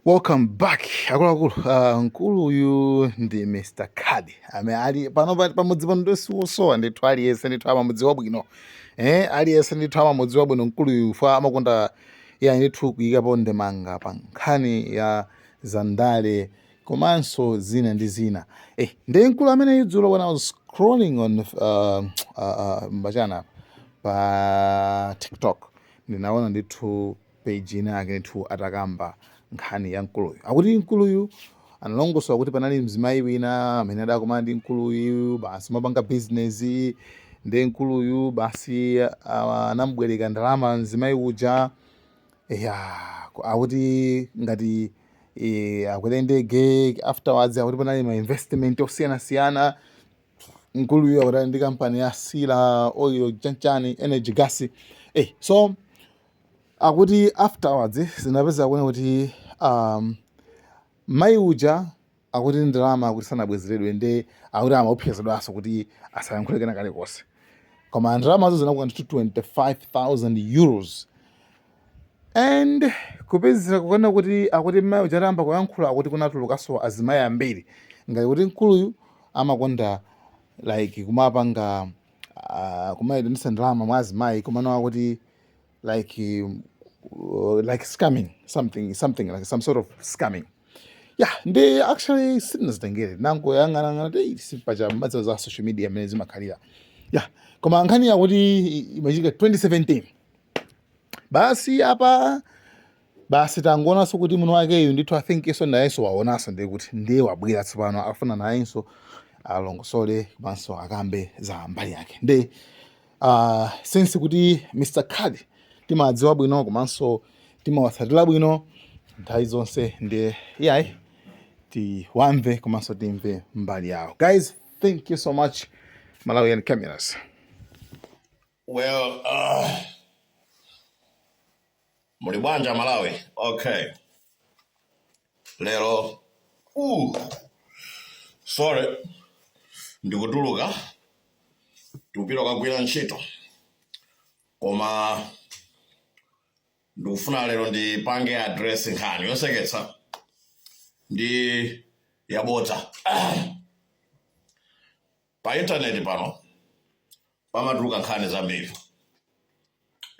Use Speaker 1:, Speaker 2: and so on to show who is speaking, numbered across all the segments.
Speaker 1: Welcome back akuluakulu. Uh, mkulu uyu ndi Mr. Kadi amene ali pano pa- pamudzi pano ndi siwosowa ndithu aliyense ndithu amamudziwa bwino eh, aliyense ndithu amamudziwa bwino mkulu uyu chifukwa amakonda iye ndithu kuyikapo ndemanga pa nkhani ya zandale komanso zina ndi zina eh, ndi mkulu amene idzulo when I was scrolling on uh, uh, uh, mbachana pa TikTok ndinaona ndithu page ina yake ndithu atakamba nkhani ya mkuluyu akuti mkuluyu analongosola kuti panali mzimayi wina amene adakumana ndi mkuluyu basi amapanga business ndi mkuluyu basi ah, anamubwereka ndalama mzimayi uja ya ku- akuti ngati eh, akwere ndege afterwards akuti panali ma investment osiyanasiyana mkuluyu akuti ali ndi kampani ya sila oil chanchani energy gas eh, so Akuti afterwards zinapezeka kunena kuti um, mai uja akuti ndalama akuti sanabwezeredwe nde akuti amaopsezedwanso kuti asayankhule kena kalikonse koma ndalamazo zinakwana ndithu 25000 euros and kupezeka kunena kuti akuti mai uja atayamba kuyankhula akuti kunatulukanso azimayi ambiri ngati kuti mkuluyu amakonda like kumapanga uh, kumayitanisa ndalama mwa azimayi komano akuti like um, uh, like scamming something something like some sort of scamming yeah then actually sitinazitengere ndinangoyang'anayang'ana ti si paja mukudziwa za social media mmene zimakhalira yeah koma nkhani yakuti imachitika 2017 basi apa basi tangoonanso kuti mwini wakeyu ndithu I think nso nayenso waonanso ndiye kuti ndiye wabwera tsopano akufuna nayenso alongosole komanso akambe za mbali yake nde uh, since kuti mr Kadi timawadziwa bwino komanso timawatsatira bwino nthawi zonse ndiye iyayi tiwamve komanso timve mbali yawo guys thank you so much malawian cameras
Speaker 2: Well, uh, muli bwanja Malawi. Okay. Lero. Ooh. Sorry. Ndikutuluka. Ndikupita kukagwira ntchito. Koma ndikufuna lero ndipange address nkhani yoseketsa ndi yabodza. Pa internet pano pamatuluka nkhani zambiri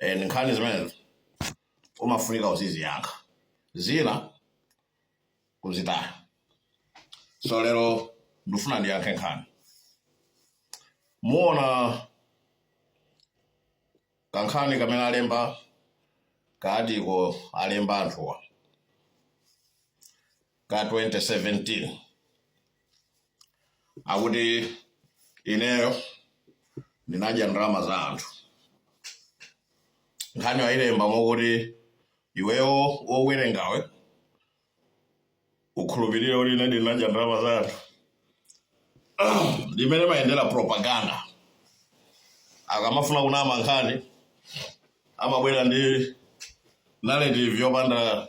Speaker 2: and nkhani zimenezi umafunika uziziyankha zina kuzitaya. So lero ndifuna ndiyankhe nkhani. Muona kankhani kamene alemba ka article alemba anthuwa ka 2017 akuti ineyo ndinadya ndalama za anthu nkhani wayilemba mokuti iweyo wowerengawe ukhulupirire kuti ine ndinadya ndalama za anthu ndimmene imayendera propaganda akamafuna kunama nkhani amabwera ndi narrative yopanda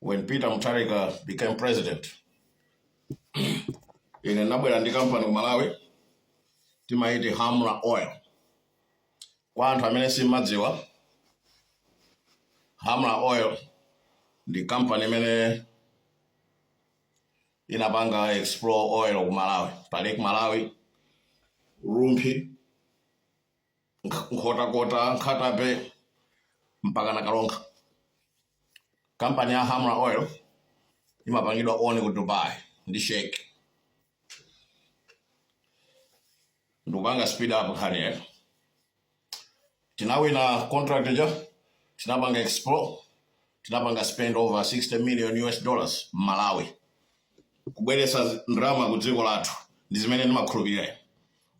Speaker 2: when Peter Mutharika became president ine nabwera ndi kampani ku Malawi timaiti Hamra Oil kwa anthu amene simmadziwa Hamra Oil ndi kampani imene inapanga explore oil ku Malawi pa Lake Malawi Rumphi Nkhotakota Nkhata Bay mpaka na Karonga kampani ya hamra oil imapangidwa own ku dubai ndi sheikh ndikupanga speed up nkhani yake tinawina contract ija tinapanga explore tinapanga spend over 60 million us dollars m'malawi kubweretsa ndalama ku dziko lathu ndi zimene ndimakhulupirira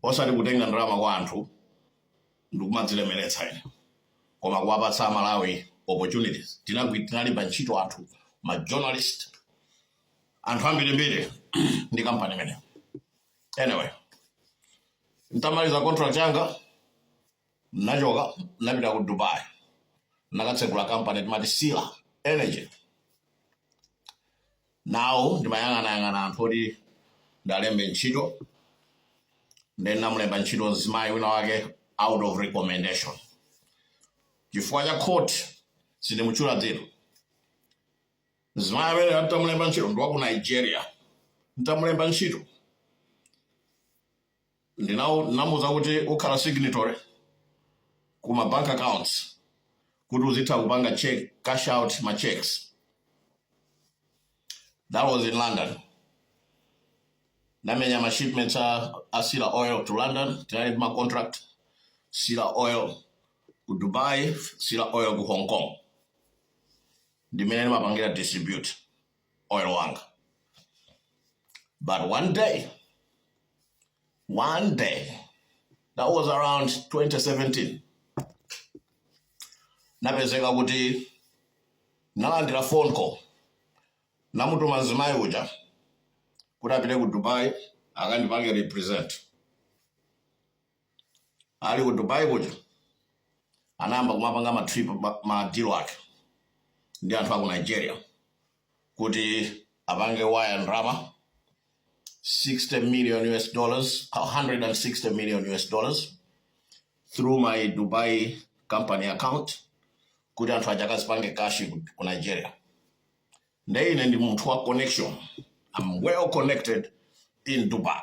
Speaker 2: Osati kutenga ndalama kwa anthu ndikumadzilemeretsa ine koma kuwapatsa a Malawi opportunities. Tinagwi, tinalemba ntchito anthu, ma journalist, anthu ambirimbiri ndi company imeneyo. Anyway, ntamaliza contract yanga Ndinachoka ndinapita ku Dubai, ndinakatsegula kampani timati Sila Energy. Now ndimayang'anayang'ana anthu oti ndiwalembe ntchito, ndiye ndinamulemba ntchito mzimayi wina wake out of recommendation chifukwa cha court, sindimutchula dzina. Mzimayi amene nditamulemba ntchito ndi wa ku Nigeria, nditamulemba ntchito Ndinau ndinamuuza kuti ukhala signatory ku ma bank accounts kuti uzitha kupanga ca- cash out ma cheques that was in London ndinamenya ma shipments a, a Sila Oil to London tinali ndi ma contract Sila Oil ku Dubai Sila Oil ku Hong Kong ndimmene ndimapangira distribute oil wanga but one day one day that was around 2017 ndinapezeka kuti ndalandira phone call ndinamutuma mzimayi uja kuti apite ku dubai akandipange represent ali ku dubai kuja anayamba kumapanga ma trip ma- ma deal ake ndi anthu aku nigeria kuti apange wire ndalama 60 million us dollars 160 million us dollars through my dubai company account kuti anthu aja akazipange cash ku ku nigeria nde ine ndi munthu wa connection i'm well connected in dubai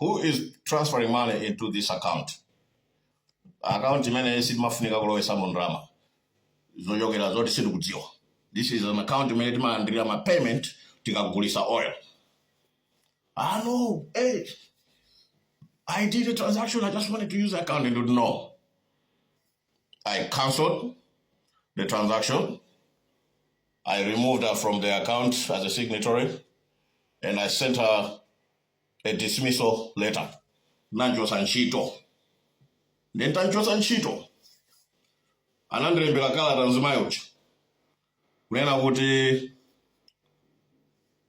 Speaker 2: who is transferring money into this account account imene sitimafunika kulowesamo ndalama zochokera zoti sitikudziwa this is an account imene timalandirira ma payment tikagulisa oil ah no hey, i did a transaction i just wanted to use the account they didn't know I cancelled the transaction. I removed her from the account as a signatory and I sent her a dismissal letter. Ndinamuchotsa ntchito. Nde nditamuchotsa ntchito. Anandilembera kalata mzimayi uja. kunena kuti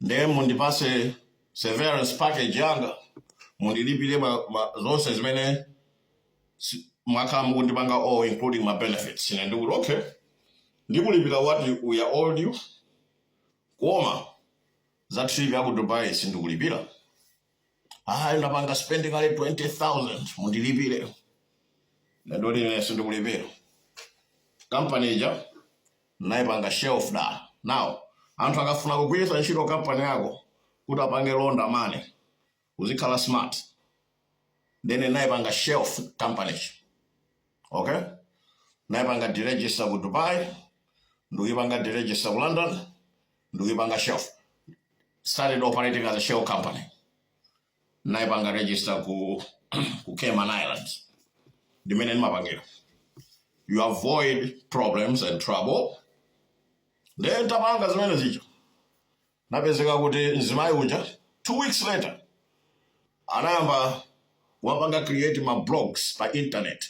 Speaker 2: nde mundipase severance package yanga mundilipire ma, ma, zonse zimene si- mwakhala mukundipanga all including ma benefits ine ndikuti okay ndikulipira what you- we are owed you koma za trip ya ku dubai sindikulipira ayi ndapanga spend kale 20000 mundilipire ndangoti ine sindikulipira kampani ija ndinaipanga shelf down anthu akafuna kugwiritsa ntchito kampani yako kuti apange launder money uzikhala smart then ndinaipanga shelf company okay ndinaipanga deregister ku dubai ndikuyipanga deregister ku london ndikuyipanga shelf started operating as a shell company ndinayipanga register ku ku Cayman Islands ndimene ndimapangira you avoid problems and trouble then titapanga zimenezijazo inapezeka kuti mzimayi uja two weeks later anayamba kupanga create ma blogs pa internet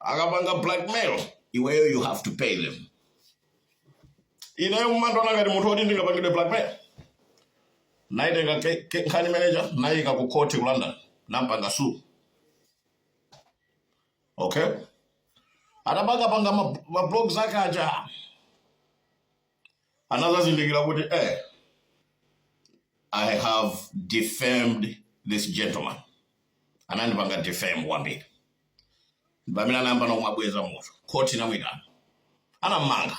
Speaker 2: akapanga blackmail iweyo you have to pay them ineyo mumandona ngati munthu oti ndingapangidwe blackmail naitenga ke- ke- nkhani manager naiyika ku court ku london nampanga sue okay atapanga panga ma- ma blogs ake aja anazazindikira kuti eh, i have defamed this gentleman anandipanga defame kwambiri pamene anayambanso kumabweza moto khoti inamuitana anammanga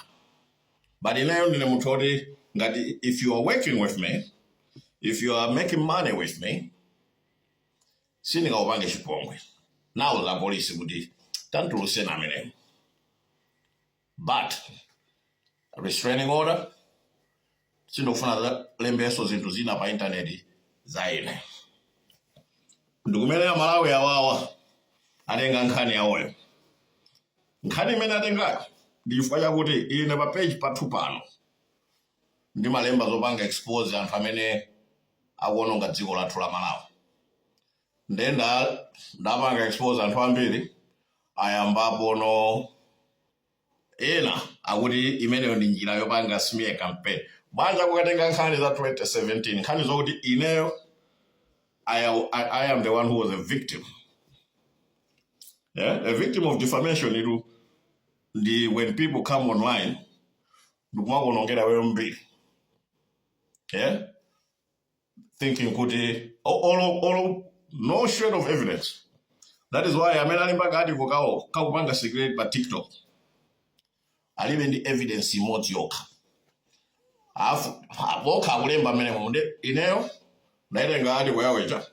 Speaker 2: but ineyo ndine munthu oti ngati if you are working with me if you are making money with me sindingakupange chipongwe nauza apolisi kuti tamtulutseni ameneyo But restraining order sindikufuna alembenso zinthu zina pa intaneti za ine ndikumenera malawi awawa atenga nkhani yawoyo nkhani imene atengayo ndi chifukwa chakuti ine pa page pathu pano ndimalemba zopanga expose anthu amene akuononga dziko lathu la malawi nde nda- ndapanga expose anthu ambiri ayamba pano ena akuti imeneyo ndi njira yopanga smear campaign bwanji akukatenga nkhani za 2017 nkhani zokuti ineyo I, I, I am the one who was a victim yeah? a victim of defamation it's when people come online ndikumakuonongera iweyo mbiri yeah? thinking kuti o- olo olo no shred of evidence that is why amene alemba ka article kawo akupanga circulate pa tiktok alibe ndi evidence imodzi yokha apo okha akulemba mmenemo nde ineyo ndaitenga article yawo ija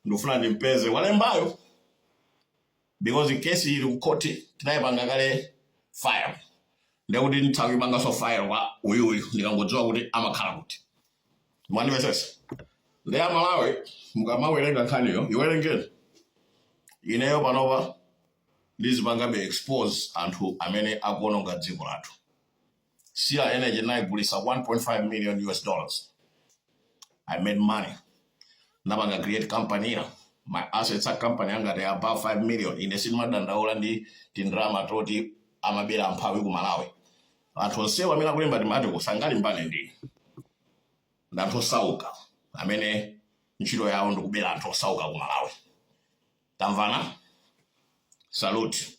Speaker 2: ndikufuna ndimpeze walembayo because kesi ili kukhoti tinayipanga kale file ndekuti nditha kuyipanganso file kwa uyuyu ndikangodziwa kuti amakhala kuti mwandimvetsetsa nde amalawi mukamawerenga nkhaniyo iwerengeni ineyo panopa ndizipangabe expose anthu amene akuononga dziko lathu Sila Energy ndinaigulitsa 1.5 million US dollars. I made money. Ndapanga create company ina. My assets a company yanga they are above 5 million. Ine sindimadandaula ndi tindrama toti amabera amphawi ku Malawi. Anthu onsewa amene akulemba tima article sangalimbane nane ndi anthu osauka amene ntchito yawo ndi kubera anthu osauka ku Malawi. Tamvana? Salute.